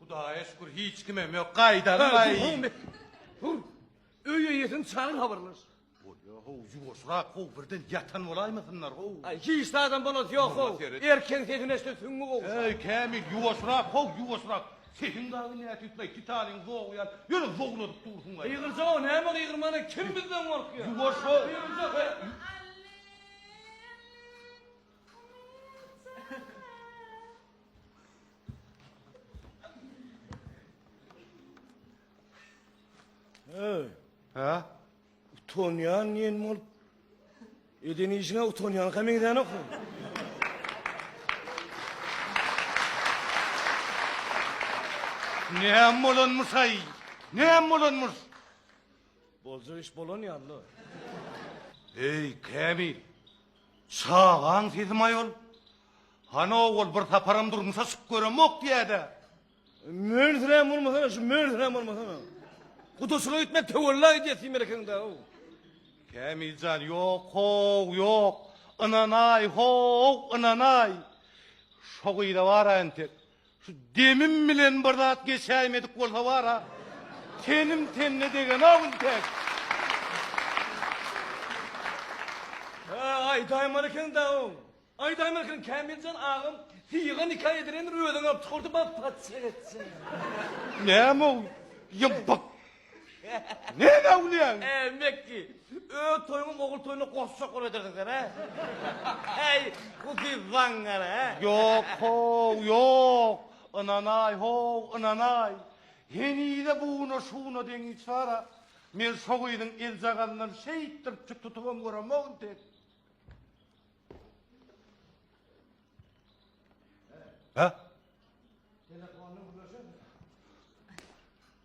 Hudaýa şükür hiç kimem ýok. Gaýdaly gaý. Hur. Öý eýesini çagyr habarlaş. Bolýa how ýuwaşrak how birden ýatan bolaýmasynlar how. Aý hiç zadam bolasy ýok how. Erkeň sesini eşde süňňi gowşar. Eý Kämil ýuwaşrak how ýuwaşrak. Sesiň dagy nätüsleý titanyň zogy ýaly ýöne zowladyp dursuň gaý. Gygyrja how näme gygyrmana kim bizden gorkýar. Ýuwaş how. Gygyrja how. Ha? Utanýan ýen bolup. Eden işine utanýan hem eden ok. Ne hem bolanmyş ay? Ne hem bolanmyş? Bolca iş bolan ýanly. Ey Kamil, Çagaň sezim-aý ol. Hanow ol bir saparam durmuşa çykyp göremok diýýä-dä. Mönsirän bolmasana, şu mönsirän bolmasana. Gudaçylyk etmek töwella edýär seň merekeňde-ow. Kämil jan, ýok-how, ýok. Ynanaý, how, ynanaý. Şo gyza baraýyn tek. Şu demim bilen bir zat geçäýmedik bolsa bar-a, tenim tenine degenok intek. Hä, aýdaýmar eken-dä oň. Aýdaýmar eken, Kämiljan agam syýga nika edilendir, özüňi alyp çykardy, bag, patyşa etsin. Näme-ow, ýa, bag? Näme awlaýaň? Ä, Mekki, öz toýuňyň ogul toýuna goşjak bolup edersiň sen, hä? Häý, bu siz zaňňar, hä? Ýok, how, ýok! Ynanaý, how, ynanaý! Henize buna-şuna deň iş bar-a. Men şo gyzyň eljagazyndan şeýtdirip çyt tutubam göremok entek. Hä? Telefondan gürleşersiň.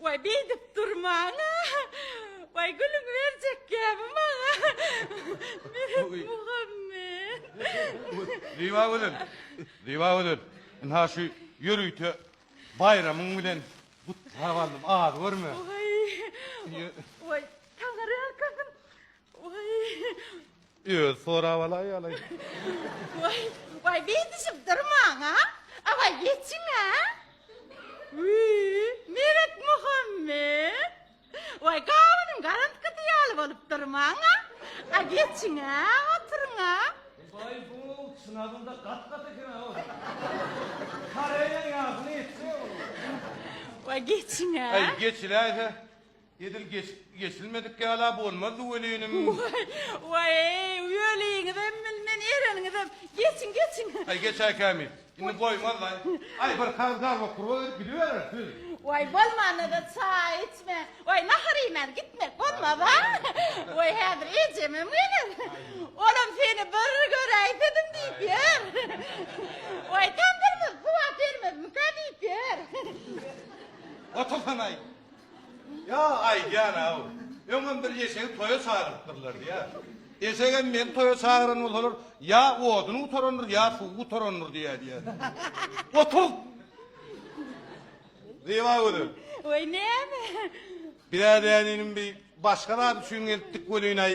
Waý, beýdip durmaň-a! Waý, gülüňi berjek gämi maňa! Meret Muhammet! Zyba gözel! Zyba gözel! Ynha şu ýörite baýramyň bilen gutlap aldym, az görme! Waý, taňyrýalkasyn! Waý! Özi sorap alaý alaý. Waý, waý beýdişip durmaň a, awaý geçiň a. Wiý, Meretmuhammet. Waý gabynyň garantgysy ýaly bolup durmaň a, a geçiň a, oturyň a. Waý bu çyn adynda gat-gat eken a ol. Koreýaň ýagyny etse ol. Waý geçiň a. Aý geçiläýse. Edil geçip geçilmedik ýala bolmazdy welinim. Waý, waý-eý, weliňizem bilmen, ereniňizem. Geçiň, geçiň. Aý, geçäý kämil. Indi goýmaz-laý. Aý, bir kag zarba purwa berip gidibereris, weli. Waý, bolmanda-da çaý içmän, waý, nahar iýmän gitmek bolmaz-a. Waý, häzir ejemem geler. Olam seni bir göräýsedim diýip ýör. Waý, tamdyrymyzy suwap bermezmikä diýip ýör. Otursana-aý. Ýa, aýdýan-aw, öňem bir eşegi toýa çagyrypdyrlar diýýär. Eşegem meni toýa çagyran bolsalar, ýa oduny gutarandyr, ýa suwy gutarandyr diýýär diýýär. Otur! Zyba gözel. Weý, näme? Biz-ä däninim bir başga zat üçin gelipdik welin-aý,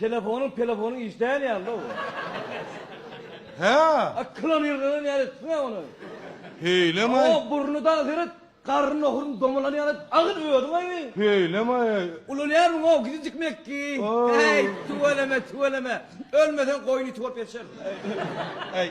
Telefonyň pelefonyň işleýän ýalyda bu. Hä? A kylany ýyrganan ýaly etdiň-ä ony. Heýlemay. O burny dagy seret, garry nohuryň domalan ýaly edip agyl özüň aýry. Heýlemay. Ulanýarmyň-ow gizijik mekki? Äý, tüweleme, tüweleme. Ölmeseň goýun iti bolup ýaşar. Äý.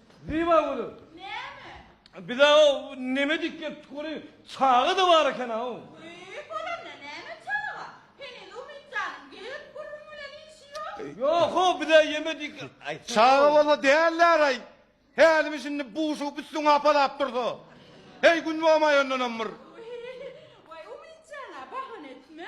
Zyba gülüp. Näme? Biz-ä o neme diýip gelipdik weli, çaga-da bar eken-aw. Büýük bolanda näme çaga? Heniz Umyt janyň gelip gürrüň bilen işi ýok. Ýok-ow, biz-ä ýemedik. Çaga bolsa däller-aý. Hälimi şindi buşugyp üstüňe hapalap dursa. Heý, gün bomaýandanam bir. Waý, Umyt jan-a, bahana etme.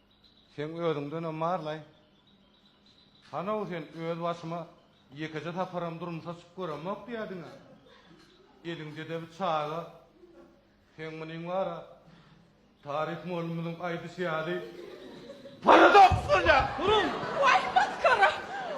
Seň özüňdenem barlaý. Hanow sen öz başyma ýekeje saparam durmuşa çykyp göremok diýýädiň-ä. Eliňdede bir çaga. Seň munyň bar-a. Taryh mugallymymyzyň aýdyşy ýaly, paradoks bolýar. Duruň! Waý, masgara!